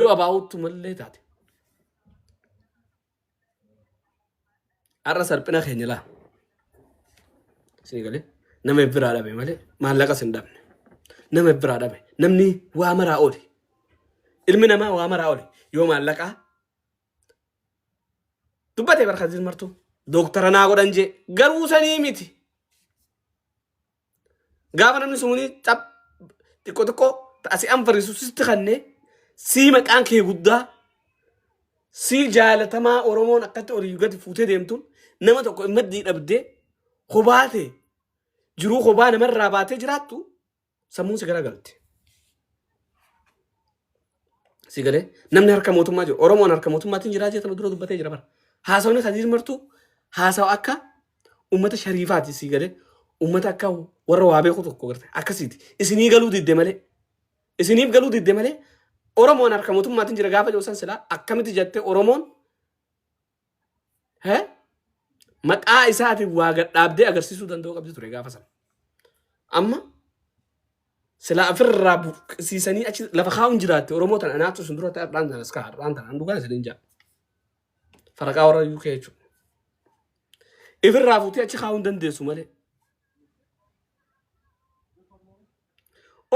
yoo abaa'uuttu mallee taate. Har'a sarphina keenya laa. Isin galee nama biraa dhabe malee maallaqas hin dhabne. Nama biraa dhabe namni waa maraa oole. Ilmi namaa waa maraa oole yoo maallaqaa dubbate barkaasiin martuu dooktara naa godhan jee garuu sanii miti. Gaafa namni suni xab xiqqoo xiqqoo ta'a si anfarisu sitti kannee sii maqaan kee guddaa sii jaalatamaa Oromoon akkatti olii gadi fuutee deemtuun nama tokko hin maddii dhabdee kophaa ta'e jiruu kophaa namarraa baatee jiraattu sammuun si garagalte. Si galee namni harka mootummaa jiru Oromoon harka mootummaatiin jiraa jeetama dura dubbatee jira bara. Haasawni Kadiir Martuu haasawa akka uummata shariifaati si galee uummata akka warra waa beeku tokko garte akkasiiti. Isinii galuu didde malee isiniif galuu didde malee Oromoon harka mootummaatiin jira gaafa jedhu san silaa akkamitti jette Oromoon He? Maqaa isaatiin waa gad dhaabdee agarsiisuu danda'uu qabdi ture gaafa sana. Amma silaa ofirraa buqqisiisanii achi lafa kaa'uun jiraatte Oromoo tana anaatu isin dura ta'e har'aan tanas ka'a har'aan tana an dhugaa isiniin jaa. Faraqaa warra UK jechuudha. Ifirraa fuutee achi kaa'uu hin dandeessu malee.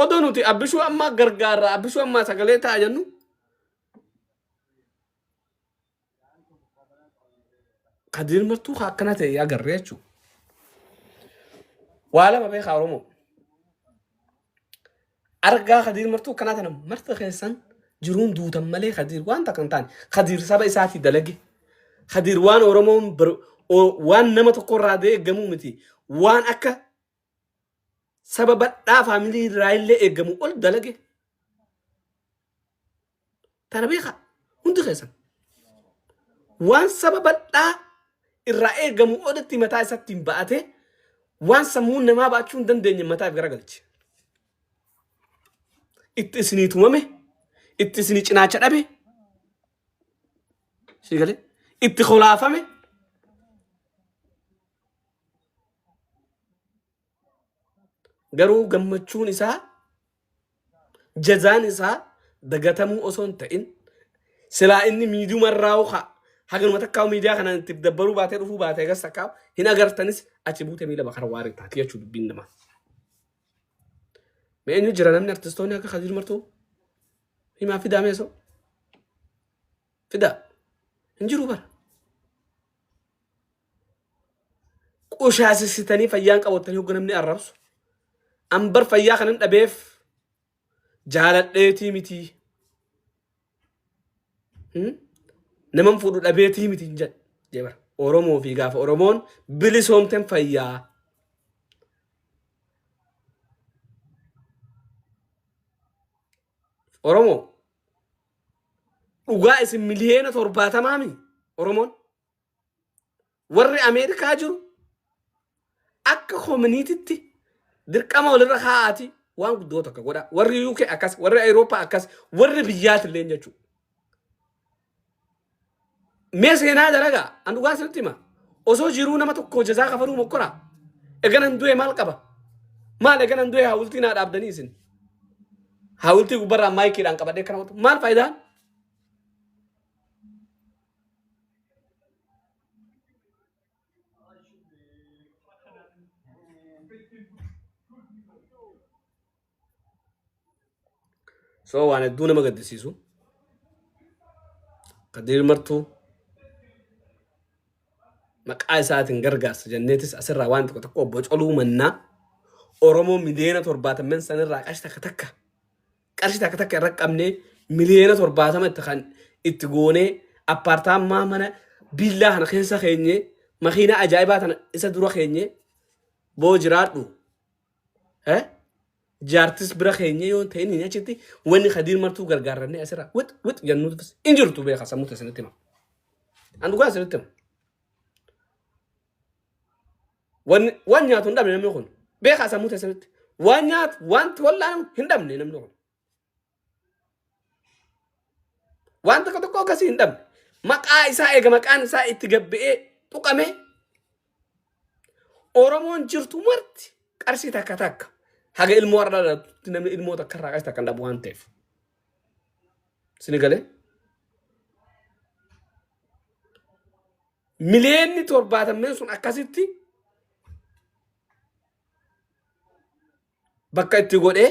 Odoo nuti abbishuu ammaa gargaarra abbishuu ammaa sagalee ta'a jennu Ka dirmattuu ka akkana ta'e yaa garree jechuudha. Waa lama beekaa Oromoo. Argaa ka dirmattuu akkanaa tana marti keessan jiruun duutan malee kadiir waan takka hin taane. Kadiir saba isaatii dalage. Kadiir waan Oromoon bar- o- waan nama tokko irraa deeggamuu miti. Waan akka saba badhaa faamilii irraa illee eegamu ol dalage tana beekaa hundi keessan waan saba badhaa irraa eegamu olitti mataa isatti hin ba'ate waan sammuun namaa ba'achuu hin dandeenye mataaf garagalche itti isinii tumame itti isinii cinaacha dhabe sii galee itti kolaafame Garuu gammachuun isaa jazaan isaa dagatamuu osoo hin ta'in silaa inni miidiyuma irraa hokaa haganuma takkaa miidiyaa kanaan itti dabbaruu baatee dhufuu baatee agas takkaa hin agartanis achi buutee miila bakara waaree taati jechuu dubbiin namaa. Mee eenyu jira namni artistoonni akka Kadir Martuu himaa fidaa mee soo fidaa hin jiru bara. qushaasessitanii fayyaan qabattanii hogga namni arrabsu an bar fayyaa kanan dhabeef jaaladheetii mitii Hmm? naman fuudhu dhabeetii miti hin jedhe jee bara oromoo fi gaafa oromoon bilisoomten fayyaa oromoo dhugaa isin miliyeena torbaatamaami oromoon warri Ameerikaa jiru akka koominiititti dirqama walirra kaa'aati waan guddoo tokko godha. Warri UK akkas, warri Awurooppaa akkas, warri biyyaatillee jechuudha. Mee seenaa dalagaa an dhugaa isinitti hima. Osoo jiruu nama tokko jazaa kafaruu mokkoraa. Eganan du'e maal qaba? Maal eganan du'e hawultii naa dhaabdanii isin? Hawultii gubbarraa maayikiidhaan qabadhee kana maal faayidaan? so waan hedduu nama gaddisiisu kadiir martuu maqaa isaatiin gargaarsa jenneetis asirraa waan tokko tokko bocoluu mannaa oromoo miliyoona torbaatamman sanirraa qash takka takka qarshii takka takka irra qabnee miliyoona torbaatama itti kan itti goonee appaartaammaa mana biillaa kana keessa keenye makiinaa ajaa'ibaa tana isa dura keenye boo jiraadhu eh? jaartis bira keenye yoo hin ta'in hin achitti wanni kadiir martuu gargaarrannee asirra wix wix jannuu tufis hin jirtu beeka sammuu isinitti hima an dhugaa isinitti hima Wan waan nyaatu hin dhabne namni kun. Beekaa sammuu teessanitti. Waan nyaatu wanti wallaanamu hin dhabne namni kun. Waan tokko tokko akkasii hin dhabne. Maqaa isaa eega maqaan isaa itti gabbi'ee tuqamee Oromoon jirtu marti qarshii takka takka haga ilmoo har'a dhalattutti namni ilmoo takka irraa qarshii takka hin dhabu waan ta'eef. Sini galee? Miliyoonni torbaatamneen sun akkasitti bakka itti godhee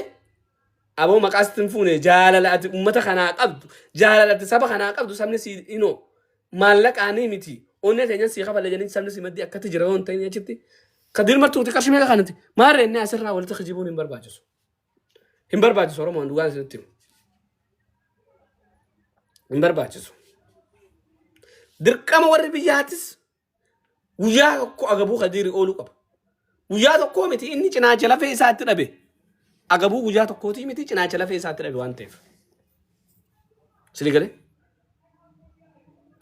aboo maqaa sitti hin fuune jaalala ati uummata kanaa qabdu jaalala ati saba kanaa qabdu sabni si inoo maallaqaanii miti onnee teenyas si kafalle jedhanii sabni si maddii akkatti jira yoo hin ta'in achitti kadir martuuti qarshii meeqa kanatti maarree inni asirraa walitti kijibuun hin barbaachisu. Hin barbaachisu Oromoon dhugaan isinitti himu. Hin barbaachisu. Dirqama warri biyyaatis guyyaa tokko agabuu kadiiri ooluu qaba. Guyyaa tokkoo miti inni cinaacha lafee isaatti dhabe. Agabuu guyyaa tokkootii miti cinaacha lafee isaatti dhabe waan ta'eef. Sili galee?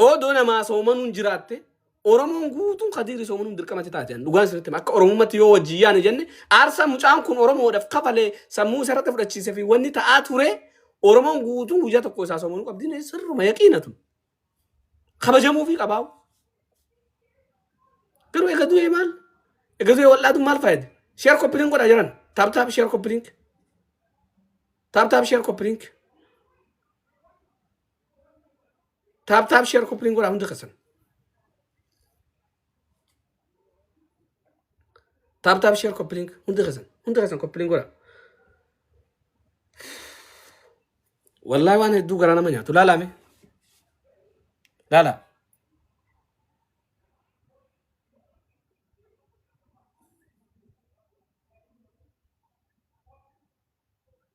Odoo namaa soomanuun jiraatte Oromoon guutuun Kadiir Isoomuun dirqamatti taate ani dhugaan isinitti hima. Akka Oromummatti yoo wajjin yaane jenne aarsaa mucaan kun Oromoodhaaf kafalee sammuu isa irratti fudhachiisee fi wanni ta'aa ture Oromoon guutuun guyyaa tokko isaa Isoomuun qabdi ni sirruma yaqiina tun kabajamuu fi qabaa. Garuu egaa du'ee maal? Egaa du'ee wal'aatu maal fayyada? Sheer koppiliin godhaa jiran. Taap taap sheer koppiliin. Taap taap sheer koppiliin. Taap taap sheer koppiliin godhaa hundi keessan. Taap taap sheer koppiliin hundi keessan hundi keessan koppiliin godhaa. Wallaahi waan hedduu garaa nama nyaatu laalaa mee laalaa.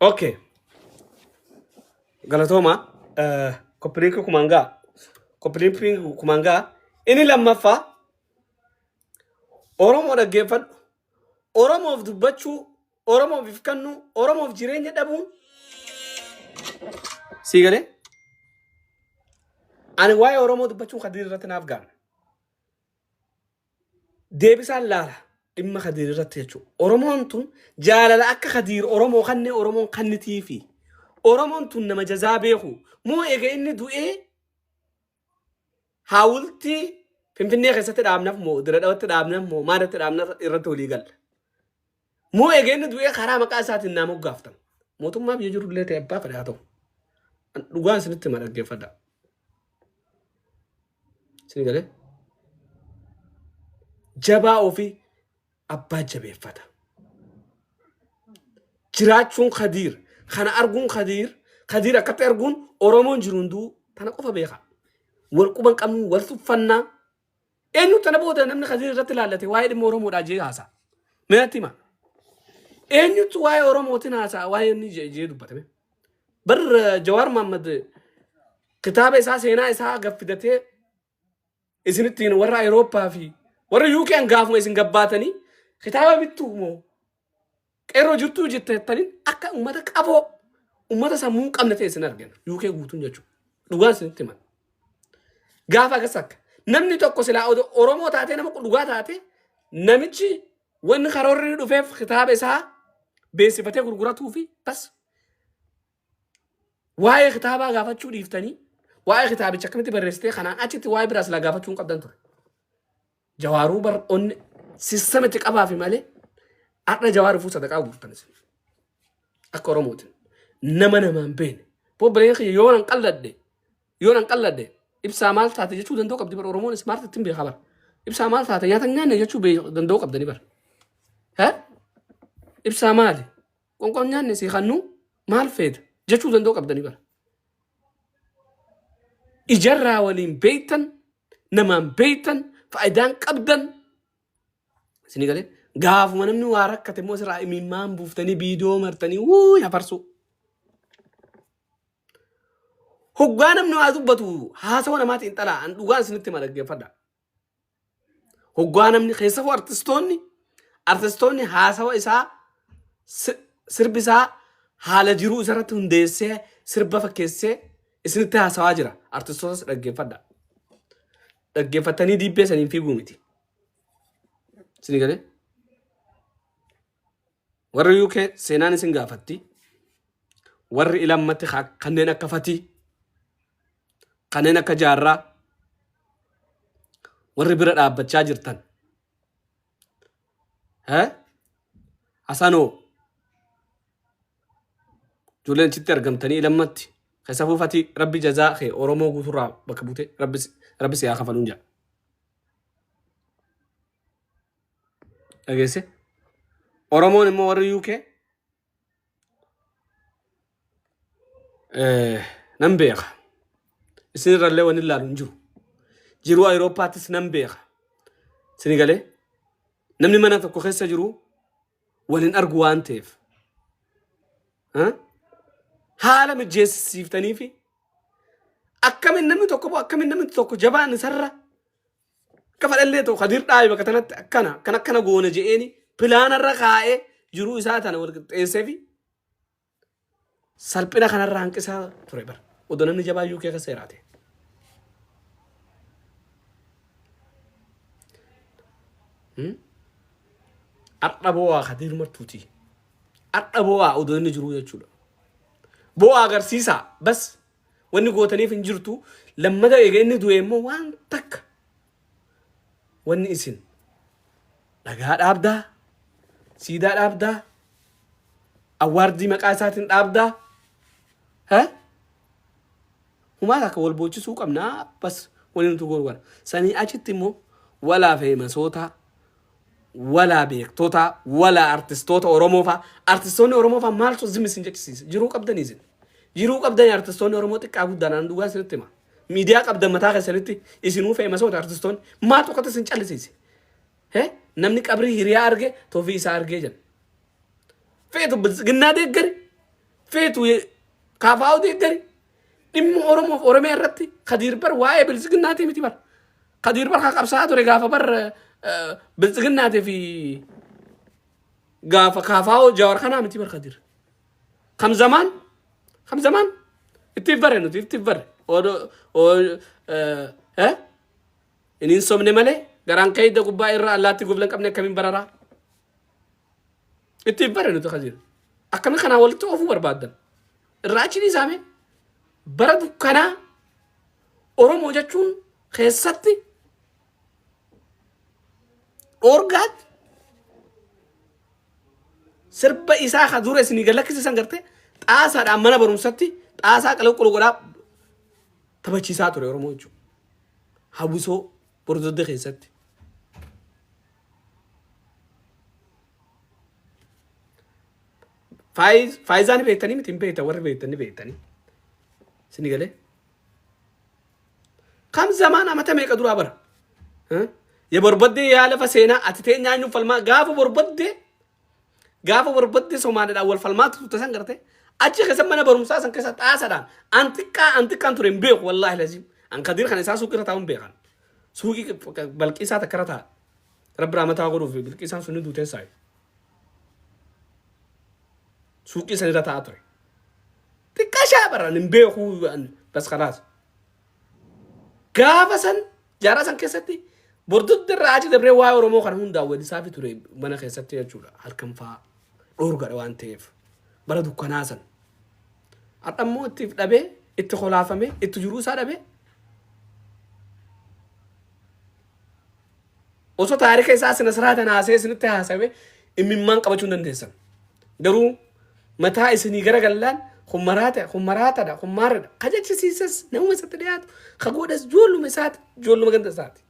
Okay. Galatooma. Eh, Koppiliinki kumaan ga'a. Koppiliinki kumaan ga'a. Inni lammaffaa Oromoo dhaggeeffadhu. Oromoof dubbachuu Oromoof if kennuu, Oromoof jireenya dhabuun sii galee ani waa'ee Oromoo dubbachuun Kadiir irratti naaf gaana. Deebisaan laala dhimma Kadiir irratti jechuudha. Oromoon tun jaalala akka Kadiir Oromoo kannee Oromoon kannitiifi. Oromoon tun nama jazaa beeku. Moo eega inni du'ee Haawultii Finfinnee keessatti dhaabnaf moo Dirree Dhawatti dhaabnaf moo maal irratti dhaabna irratti walii galla. Moo egeenni du'ee karaa maqaa isaatiin naa moggaaftan. Mootummaa biyya jiru illee ta'e abbaa fedhaa ta'u. An Dhugaan isinitti hima dhaggeeffadha. Isin galee jabaa ofii abbaa jabeeffata. Jiraachuun Kadiir kana arguun Kadiir Kadiir akkatti arguun Oromoon jiru hunduu tana qofa beeka. Wal quban qabnu wal tuffannaa eenyu tana booda namni Kadiir irratti ilaallate waa'ee dhimma Oromoodhaa jee haasa. Mee natti hima. Eenyutu waa'ee Oromootiin haasa'a waa'ee inni jee jee dubbatame. Bar Jawaar Mahammad kitaaba isaa seenaa isaa gaffidatee isinittiin warra Ayirooppaa fi warra UK'n gaafuma isin gabbaatanii kitaaba bittu moo qeerroo jirtuu jetteettaniin akka uummata qaboo uummata sammuu hin qabne ta'e isin argina UK guutuun jechuudha. Dhugaan isinitti himan. Gaafa akkas akka namni tokko silaa odo- Oromoo taatee nama dhugaa taate namichi wanni karoorri dhufeef kitaaba isaa beeksifatee gurguratuu fi bas Waa'ee kitaabaa gaafachuu dhiiftanii waa'ee kitaabicha akkamitti barreessitee kanaan achitti waa'ee biraas laa gaafachuu hin qabdan ture. Jawaaruu bar onne sistema itti qabaafi malee har'a jawaar dhufuu sadaqaa guurtan isin. Akka Oromootiin nama namaan beene. Bobbileen kiyya yoo nan qalladde yoo nan qalladde ibsaa maal taate jechuu danda'u qabdi bar Oromoon ismaarti ittiin beekaa bar. Ibsaa maal taate nyaata hin nyaanne jechuu beeku- danda'u qabdani bar. Hee? Ibsaa maali? Qonqoon nyaanne si kannu maal feeta jechuu danda'u qabdanii bara. Ijarraa waliin beektan namaan beektan faayidaan qabdan isinii galee gaafuma namni waa rakkate immoo sirraa imimmaan buuftanii biidoo martanii wuu hafarsuu. Hoggaa namni waa dubbatu haasawa namaatiin xalaa an dhugaan isinitti hima dhaggeeffadha. Hoggaa namni keessafuu artistoonni artistoonni haasawa isaa si- sirbi isaa haala jiruu isarratti hundeessee sirba fakkeessee isinitti haasawaa jira. Artistootas dhaggeeffadha. Dhaggeeffattanii diibbee saniin fiiguu miti. Isinii galee? Warri UK seenaan isin gaafatti. Warri ilammatti ka- kanneen akka fatii, kanneen akka jaarraa, warri bira dhaabbachaa jirtan. Eh? Hasanoo, ijoolleen achitti argamtanii ilammatti. Keessafuu fatii rabbi jazaa kee Oromoo guuturraa bakka buute rabbi si- rabbi si haa kafaluun jedha. dhageesse oromoon immoo warri uk nan beeka isin irrallee wanni ilaalu hin jiru jiruu ayiroopaattis nan beeka sini galee namni mana tokko keessa jiru wal hin argu waan ta'eef ha? haala mijeessiftanii fi akkamiin namni tokko akkamiin namni tokko jabaan isarra Akka fadhallee ta'u Kadir dhaabe bakka tanatti akkana akkana akkana goona je'eeni pilaanarra kaa'ee jiruu isaa tana wal qixxeessee fi salphina kanarraa hanqisaa ture bara. Odoo namni jabaa UK akka seeraate. Har'a boo'aa Kadir martuuti. Har'a boo'aa odoo inni jiruu jechuudha. Boo'aa agarsiisaa bas Wanni gootaniif hin jirtu. Lammata eega inni du'e immoo waan takka wanni isin dhagaa dhaabdaa, siidaa dhaabdaa, awwaardii maqaa isaatiin dhaabdaa. Ha? Humaa takka wal boochisuu qabnaa bas wanni nuti goonu kana. Sanii achitti immoo walaa fi masootaa Walaa beektotaa walaa artistoota oromoo faa artistoonni oromoo faa maaltu zim isin jechisiise jiruu qabdanii isin jiruu qabdanii artistoonni oromoo xiqqaa guddaan aan dhugaa isinitti hima miidiyaa qabdan mataa keessanitti isinuu feemasoota artistoonni maal tokkotti isin callisiise he namni qabrii hiriyaa arge tofii isaa argee jedha feetu biltsiginnaa deeggari feetu kaafaa'u deeggari dhimma oromoof oromee irratti kadiir bar waa'ee biltsiginnaatii miti bar Kadiir bar kan qabsaa'aa ture gaafa bar biltsiginnaatii fi gaafa kaafaa'oo jaawar kanaa miti bar kadiir. Kam zamaan kam zamaan ittiif bare nuti ittiif bare odoo oo- eh, eh? inni hin sobne malee garaan keeyda gubbaa irra allaatti gublan qabne akkamiin bararaa. Ittiif bare nuti kadiir. Akkana kanaa walitti oofuu barbaaddan. Irraa achi dhiisaame bara dukkanaa Oromoo jechuun keessatti dhoorgaatti sirba isaa ka dura isinii gad lakkisiisan garte xaasaadhaan mana barumsatti xaasaa qalaqqulu godhaa taphachiisaa ture Oromoo jechuudha. Hawwisoo Bordodde keessatti. Faayiz, faayizaa ni beektanii miti hin beektan warri beektan ni beektanii. Sini galee. Kam zamaan amata meeqa duraa bara? Huh? Ya barbadde yaa lafa seenaa ati tee nyaanyuuf falmaa gaafa barbadde Gaafa barbaddee Somaaliidhaan wal falmaatti turte san garte achi keessa mana barumsaa san keessa xaasadhaan an xiqqaa an xiqqaan ture hin beeku wallaahi laziim. An kadiir kana isaa suuqii irra taa'uun beekan. Suuqii balqiisaa takka irra taa'a. Rabbi raamataa godhuuf bilqiisaan sun ni duutee saayi. Suuqii san irra taa'aa ture. Xiqqaa shaa baraan hin beeku bas kalaas. Gaafa san jaarraa san keessatti bordodda irraa achi dabree waa'ee Oromoo kana hundaa weellisaafi ture mana keessatti jechuudha. Halkan fa'aa dhoorgadha waan ta'eef bara dukkanaa san. Har'a immoo itti dhabee itti kolaafamee itti jiruu isaa dhabee Osoo taarika isaa sina siraatan haasa'ee isinitti haasa'e immimmaan qabachuu hin dandeessan. Garuu mataa isinii gara gallaan kun maraata kun maraatadha kun maarradha ka jechisiisas namuma isatti dhiyaatu ka godhas joolluma isaati joolluma ganda isaati.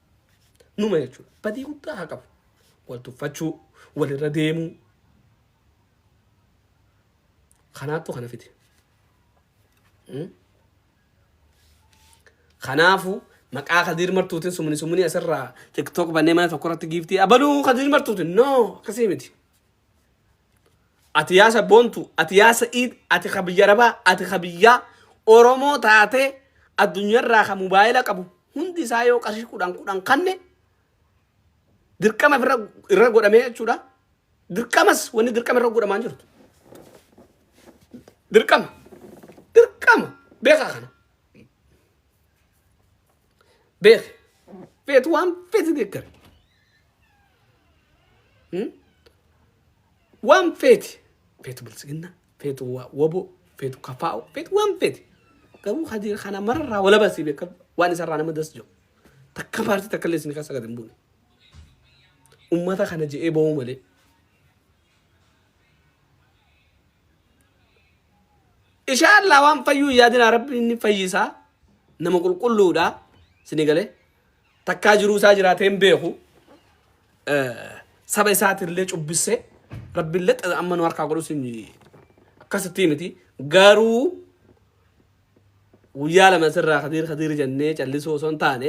Numa jechuudha. Badii guddaa haa qabu. Wal tuffachuu, walirra deemuu. Kanaattu kana fide. Mm? Kanaafu maqaa Kadiir Martuutin sumuni sumuni asirraa TikTok bannee mana tokko irratti giiftii abaluu Kadiir Martuutin no akkasii miti. Ati yaa sabboontu, ati yaa Sa'iid, ati ka biyya Arabaa, ati ka biyyaa Oromoo taatee addunyaarraa ka mobaayila qabu hundi isaa yoo qarshii kudhan kudhan kanne Dirqama irra irra godhamee jechuudha. Dirqamas wanni dirqama irra godhamaa hin jirtu. Dirqama. Dirqama. Beekaa kana. Beek. Feetu waan feeti deeggare. Hmm? Waan feeti. Feetu bilisiginna. Feetu wa- waboo. Feetu kafaa'u. Feetu waan feeti. Garuu hadiira kana mararraa walabasii beeka. Waan isarraa nama das jiru. Takka paartii takka illee isin keessa gad hin buune. Ummata kana je'ee ba'uu malee. Ishaallaa waan fayyuu yaadinaa rabbi inni fayyisaa nama qulqulluudha sini galee takkaa jiruu isaa jiraatee hin beeku saba isaatirlee cubbissee rabbillee xaza amma nu harkaa godhu sin akkasittii miti garuu Guyyaa lama sirraa kadiir kadiir jennee callisuu osoo hin taane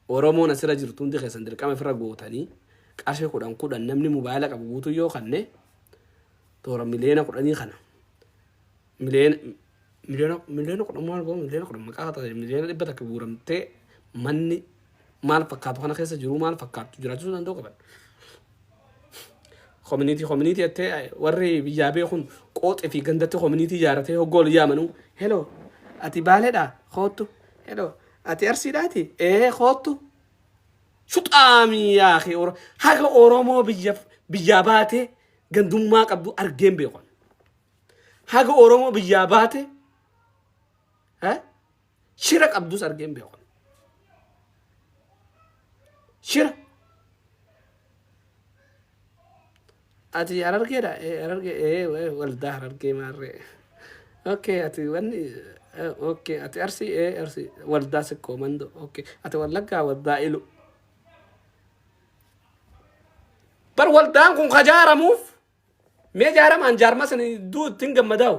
oromoon asira jirtu hundi keessan dirqama ifirra gootanii qarshi kudhan kudhan namni mubaayila qabu guutuu yoo kanne toora miliyoona kudhanii kana miliyoona miliyoona miliyoona kudhan maal goon miliyoona kudhan maqaa ta'e miliyoona dhibba takka guuramtee manni maal fakkaatu kana keessa jiru maal fakkaatu jiraachisuu danda'u qaban Kominiitii kominiitii jettee ay, warri biyyaa beekun qooxi fi gandatti kominiitii ijaaratee hogguu ol yaamanuu heloo ati baaleedhaa koottu heloo ati arsiidhaati ee koottu shuxaamii yaakee oro haga oromoo biyya biyyaa baatee gandummaa qabdu argeen beekon haga oromoo biyyaa baatee eh, Shira qabdus argee hin beeku. Shira. Ati harargeedha? Eh, harargee, eh, eh, waldaa harargee maarree. Okay, ati wanni, eh, okay, ati arsii, eh, arsii, waldaa sikkoo mandoo, okay, ati wallaggaa waldaa ilu. Bar waldaan kun kajaaramuuf Mee jaaramaan jaarmaa sana iddoo ittiin gammadaa'u.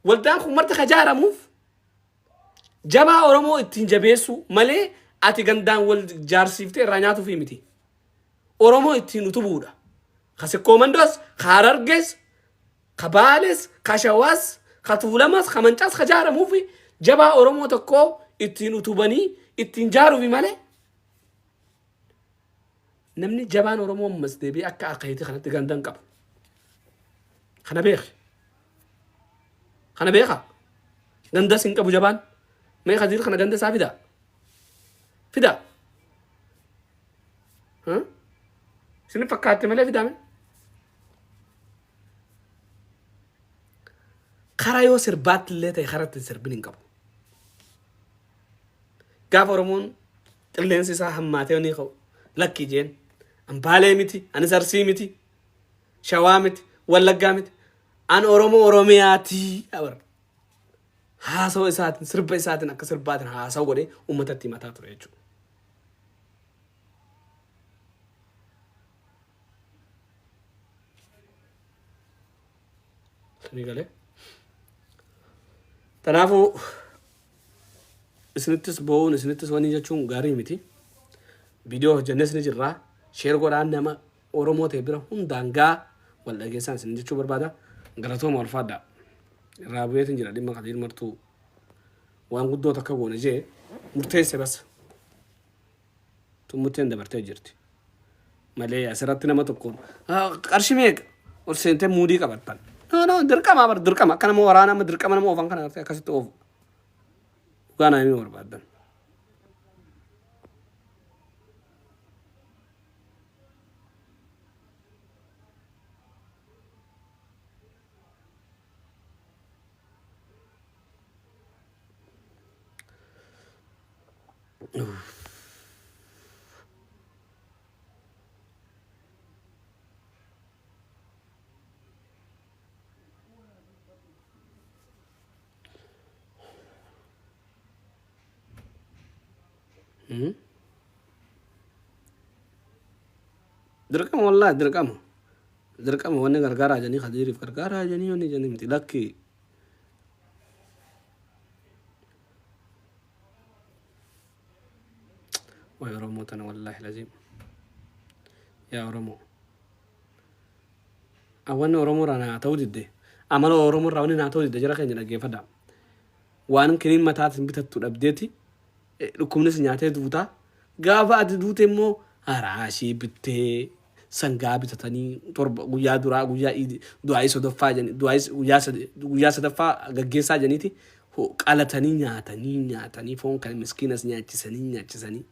Waldaan kun marti ka jaaramuuf jabaa Oromoo ittiin jabeessuu malee ati gandaan wal jaarsiiftee irraa nyaatuuf miti. Oromoo ittiin utubuudha. Ka sikkoomandoos, ka harargees, ka baales, ka shawaas, ka tuulamas, ka mancaas ka jaaramuuf jabaa Oromoo tokkoo ittiin utubanii ittiin jaaruufi malee Namni jabaan Oromoo ammas deebi'ee akka akeeti kanatti ganda hin qabu. Kana beeki. Kana beeka. Gandas hin qabu jabaan. Mee Kadiir kana ganda isaa fidaa. Fidaa. Huh? Isin fakkaatte malee fidaame. Karaa yoo sirbaatti illee ta'e karatti hin sirbin hin qabu. Gaafa Oromoon Qilleensi isaa hammaatee ni ka'u. Lakki jeen. An Baalee miti, anis Arsii miti, Shawaa miti, Wallaggaa miti. An Oromoo Oromiyaati. Abar. Haasawa isaatiin, sirba isaatiin akka sirbaatiin haasawa godhee uummatatti himataa ture jechuudha. Isinii galee. Kanaafuu isinittis boo'uun isinittis wanii jechuun gaarii miti. Viidiyoo hojjennes ni jirra. Sheer godhaan nama Oromoo ta'e bira hundaan gaa wal dhageessaan isin jechuu barbaada. Galatooma ulfaadhaa. Irraa bu'eetiin jira dhimma kadiir martuu waan guddoo takka goone jee murteesse bas. xummuteen dabartee jirti malee asirratti nama tokko "Ah, qarshii meeqa ol seentee muudii qabattan no no dirqama bar dirqama akka nama waraana amma dirqama nama oofan kana artee akkasitti oofu dhugaa naa himuu barbaaddan Hmm? dirqama wallahi dirqama dirqama wanni gargaaraa jedhanii kadiiriif gargaaraa jedhanii wanni jedhanii miti lakkii Waa'ee Oromoo tana wallaahi laziim. Yaa Oromoo. Awwanni Oromoo irraa naa ta'uu didde. Amala Oromoo irraa wanni naa ta'uu didde jara keenya dhaggeeffadha. Waan kiniin mataatiin bitattu dhabdeeti. Dhukkubnis nyaatee duutaa. Gaafa ati duute immoo haraashii bittee sangaa bitatanii torba guyyaa duraa guyyaa iidi du'aa'ii sodoffaa jedhanii du'aa'ii guyyaa sadi guyyaa sadaffaa gaggeessaa jedhaniiti ho- qalatanii nyaatanii nyaatanii foon kan miskiinas nyaachisanii nyaachisanii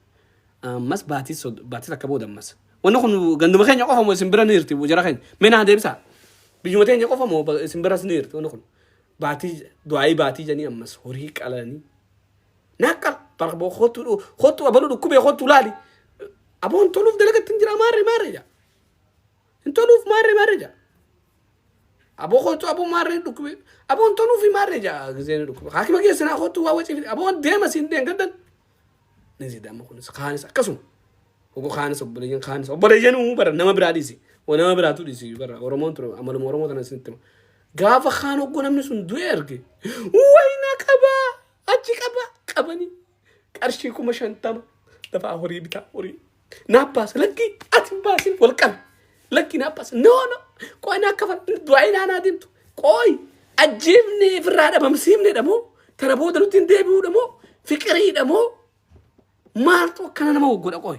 ammas baatii sod- baatii takka booda ammas wanni kun ganduma keenya qofa moo isin bira ni jirti jara keenya mee naa deebisaa biyyuma teenya qofa moo ba- isin biras ni jirti wanni kun baatii du'aa'ii baatii jedhanii ammas horii qalanii Naaqqal bara boo kottu dhu- kottu abaluu dhukkubee kottu laali. Aboo hin toluuf dalagatti hin jira maarre maarre jaa. Hin toluuf maarre maarre jaa. Aboo kottu aboo maarre dhukkubee. Aboo hin toluuf maarre jaa gizee ni dhukkubee. Haakima keessa naa kottu waa wacii fide. Aboo deema siin deen gaddan. Ni zidama kunis kaanis akkasuma. Ogo kaanis obboleeyyan kaanis obboleeyyanuu bara nama biraa dhiisi. Wa nama biraatu dhiisi bara Oromoon ture amaluma Oromoo tana isinitti hima. Gaafa kaan oggoo namni sun du'e arge. Wayna qabaa. Achi qaba qabanii qarshii kuma shantama dafaa horii bitaa horii naa baasa lakkii ati hin baasin wal qabi lakkii naa baasa noo noo qoy naa kafal du'aa ilaanaa deemtu qoy ajjeefnee firraa dhabamsiifne dhamoo tana booda nutti hin deebi'uu dhamoo fiqirii dhamoo maaltu akkana nama waggodha qoy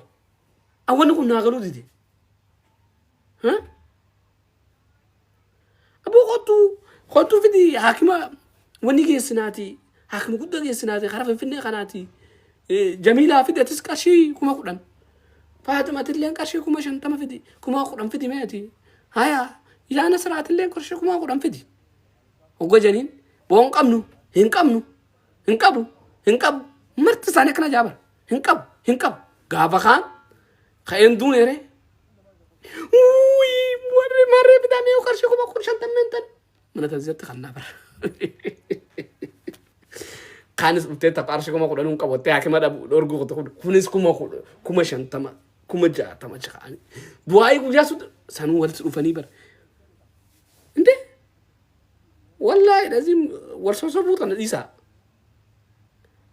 awwanni kun naa galuu dide. Huh? Aboo kottuu kottuu fidi haakima wanni geessinaati haakima guddaa geessinaati karaa finfinnee kanaati jamiilaa fidi atis qarshii kuma kudhan faatimatilleen qarshii kuma shantama fidi kuma kudhan fidi meeti haya yaa nasiraatilleen qarshii kuma kudhan fidi hogga janiin boo hin qabnu hin qabnu hin qabu hin qabu marti isaanii akkana jaaban Hin qabu, hin qabu. Gaafa kaan ka'een duune ree. Wuuyii warri marree bitaa mee qarshii kuma kun shantan meentan. Mana taasisatti kan naa bara. Kaanis dhuftee tapha qarshii kuma kudhan hin qabattee hakima dhabu dhorguu kutu kun kunis kuma kudhan kuma shantama kuma jaatama ja'anii. Du'aayii guyyaa sun sanuu walitti dhufanii bara. Indee wallaahi dhaziin wal sosobuu tana dhiisaa.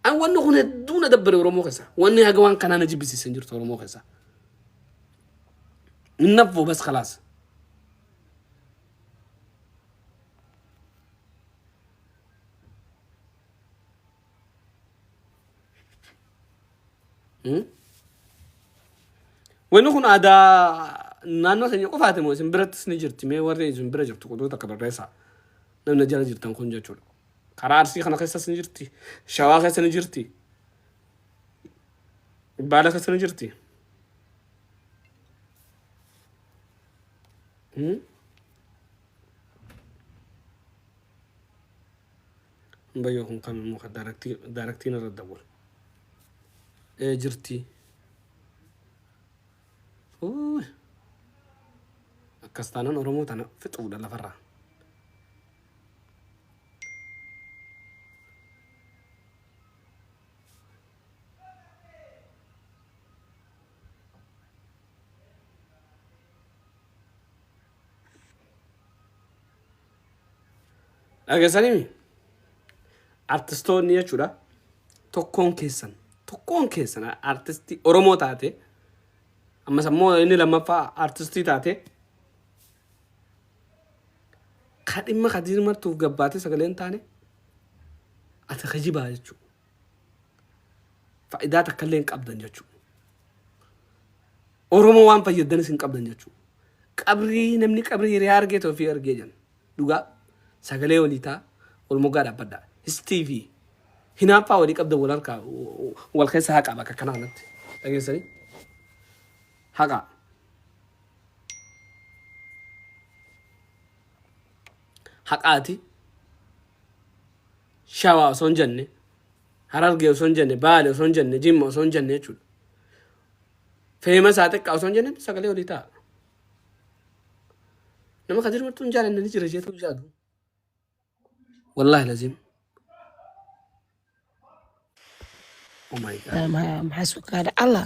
An wanni kun hedduu na dabbare Oromoo keessa. Wanni haga waan kanaa na jibbisiisan jirtu Oromoo keessa. Innaffu bas khalaas. Hmm? Wanni kun aadaa naannoo keenya qofaati moo isin birattis ni jirti mee warri isin bira jirtu qoduu takka barreessaa. Namni jala jirtan kun jechuudha. Karaa Arsii kana keessas ni jirti. Shawaa keessa ni jirti. Baala keessa ni jirti. Hmm? Bayyoo kun kan immoo kan daaraktii daaraktiin irra dawwal. Ee jirti. Uuy. Akkas taanaan Oromoo tana fixuudha lafarraa. dhagesanii artistoonni jechuudha tokkoon keessan tokkoon keessan artistii oromoo taate ammas ammoo inni lammaffaa artistii taate Ka dhimma Kadiir martuuf gabbaatee sagalee hin taane ati kijibaa jechuu. Fayidaa takkallee hin qabdan jechuu. Oromoo waan fayyaddanis hin qabdan jechuu. Qabrii namni qabrii hiriyaa argee ta'e ofii argee jedhan. Dhugaa sagalee walii taa wal moggaa dhaabbadhaa. Histii fi hinaaffaa walii qabdan wal harkaa wal keessa haqaa bakka kanaa kanatti. Dhageessanii? Haqaa. haqaati shawaa osoo hin jenne harargee osoo hin jenne baale osoo hin jenne jimma osoo hin jenne jechuudha feema isaa xiqqaa osoo hin jenne sagalee olii ta'a nama kadir martuu hin jaalanne ni jira jeetu jaadu wallaahi laziim oh my god maxaa sukaadha allah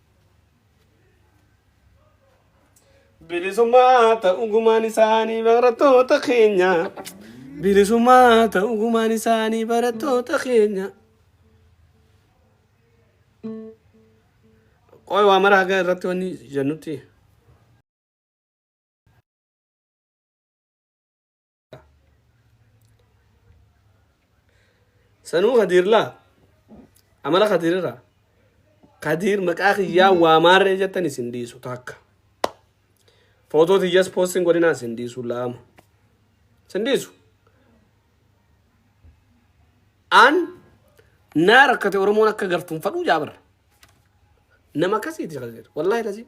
Bilisummaa ta'u gumaan isaanii barattoota keenya. Bilisummaa ta'u gumaan isaanii barattoota keenya. Qoy waa mara haga irratti wanni jennutti. sanuu kadiirlaa amala kadiirraa kadiir maqaa kiyyaa waamaarree jettan isin dhiisu takka footoo tiyyas poostiin godhinaa isin dhiisu laama isin dhiisu an naa rakkate oromoon akka gartuun fadhuu jaabara nama akkasiiti kadiir wallaahi lazii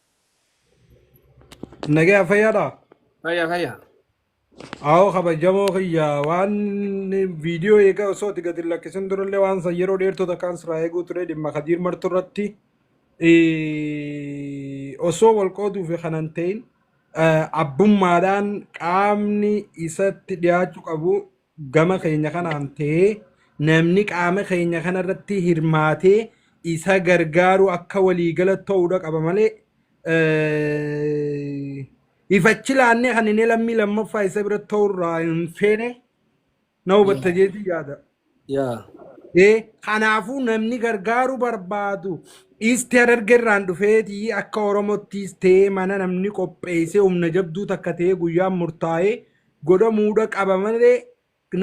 Nagaya fayyaadha. Fayya fayya. Aho kabajamoo kiyya waan viidiyoo eegaa osoo itti gadi lakkisin durallee waan san yeroo dheertuu takkaan siraa eeguu ture dhimma kadiir martuu irratti eh, osoo wal qooduu fi kanan ta'in eh, abbummaadhaan qaamni isatti dhiyaachuu qabu gama keenya kanaan ta'ee namni qaama keenya kanarratti hirmaatee isa gargaaru akka waliigala ta'uudha qaba malee ifachi laannee kan inni lammii lammaffaa isa bira ta'urraa hin feene na hubatta jeetii yaada. Yaa. Ee, Kanaafuu namni gargaaru barbaadu isti harargerraan dhufeeti akka Oromottiis ta'ee mana namni qopheessee humna jabduu takka ta'ee guyyaan murtaa'ee godhamuudha qaba malee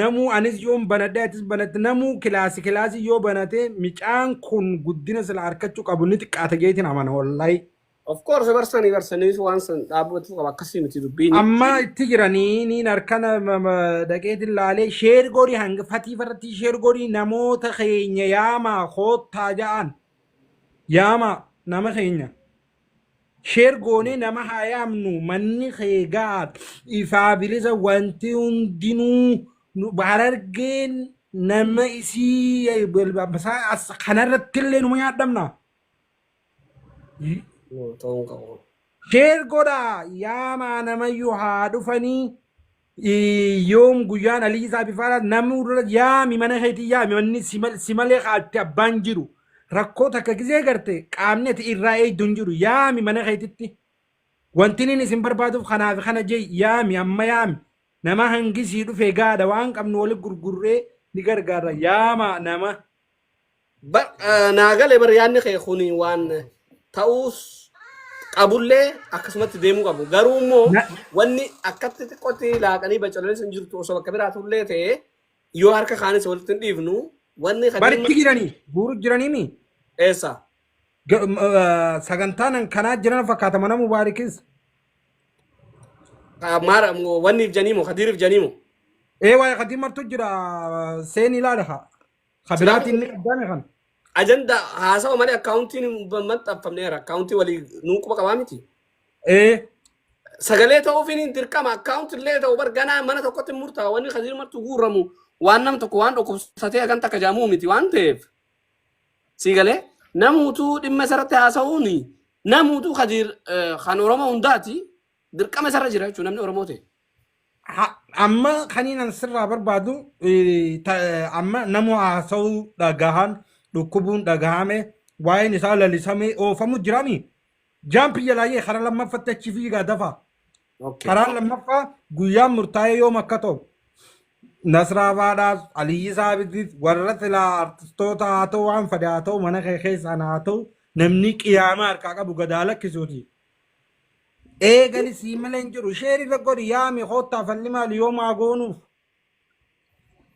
namuu anis yoon banadhee atis banatte namuu kilaasi kilaasi yoo banate micaan kun guddina sila arkachuu qabu ni xiqqaata jeetiin amana wallahi. Of course barsanii barsanii waan san dhaabbatu qaba akkasii miti dubbiin. Amma itti jiranii niin harkana dhaqeetiin laalee sheer godhi hanga fatii farratti sheer godhi namoota keenya yaamaa koottaa ja'an yaamaa nama keenya. Sheer goonee nama haa yaamnu manni kee ga'a ifaa bilisa wanti hundinuu nu- harargeen nama isii isaa as- kanarratti illee numa nyaadhamna. Yoo ta'uu qabu. Sheer godhaa yaamaa namayyuu haa dhufanii. yoom guyyaan alii isaa bifaadha namni dura yaami mana keetii yaami manni si mal- si malee kaatti abbaan jiru rakkoo takka gisee garte qaamni ati irraa eegdu hin jiru yaami mana keetitti wanti inni isin barbaaduuf kanaaf kana jee yaami amma yaami nama hangisii dhufe gaadha waan qabnu wali gurgurree ni gargaarra yaama nama Bar eh, naa gale bar yaadni kee kun waan ta'uus qabullee akkasumatti deemuu qabu. Garuu immoo Na- wanni akkatti xiqqootti laaqanii bacaleen sun jirtu osoo bakka biraa turullee ta'e yoo harka kaanis walitti hin dhiifnu wanni kan Baritti dhimma jiranii guuru jiraniimi. eessa? Ga- m- eh, Sagantaan kanaa jiran fakkaata mana mubaarikis. Ah, Maara wanniif janiimo kadiiriif janiimo. Ee waa'ee kadii martu jira seen ilaala haa. Ka biraatiin ni qabdaame kan. Ajanda haasawa malee akkaawuntiin hin maxxanfamneera. Akkaawuntii walii nuu quba qabaa miti. Ee. Sagalee ta'uufiin hin dirqama. Akkaawuntii illee ta'u bar ganaa mana tokkotti hin murtaa'a. Wanni kan jirmartu guurramu waan nam tokko waan dhukkubsatee hagan takka jaamuu miti waan ta'eef. Sii galee namuutuu dhimma isarratti haasa'uun namuutuu kadiir kan Oromoo hundaati. Dirqama isarra jira jechuun namni Oromoo ta'e. Ha- amma kaniinan sirraa barbaadu eh, ta- eh, amma nama haasa'uu dhagahan dhukkubuun dhagahame waa'een isaa lalisamee oofamu jirami jaampi jalaayyee karaa lammaffatti achi fiigaa dafa Okay. karaa lammaffaa guyyaan murtaa'ee yoom akka ta'u Nasraa Baadhaas, Aliyyi Saabitis, warra silaa artistoota haa ta'u waan fade haa ta'u mana kee keessaan haa ta'u namni qiyaamaa harkaa qabu gadaa lakkisuuti. Eegali sii malee hin jiru. Sheer irra godhi yaami koottaa falli maali yoo maa goonuuf.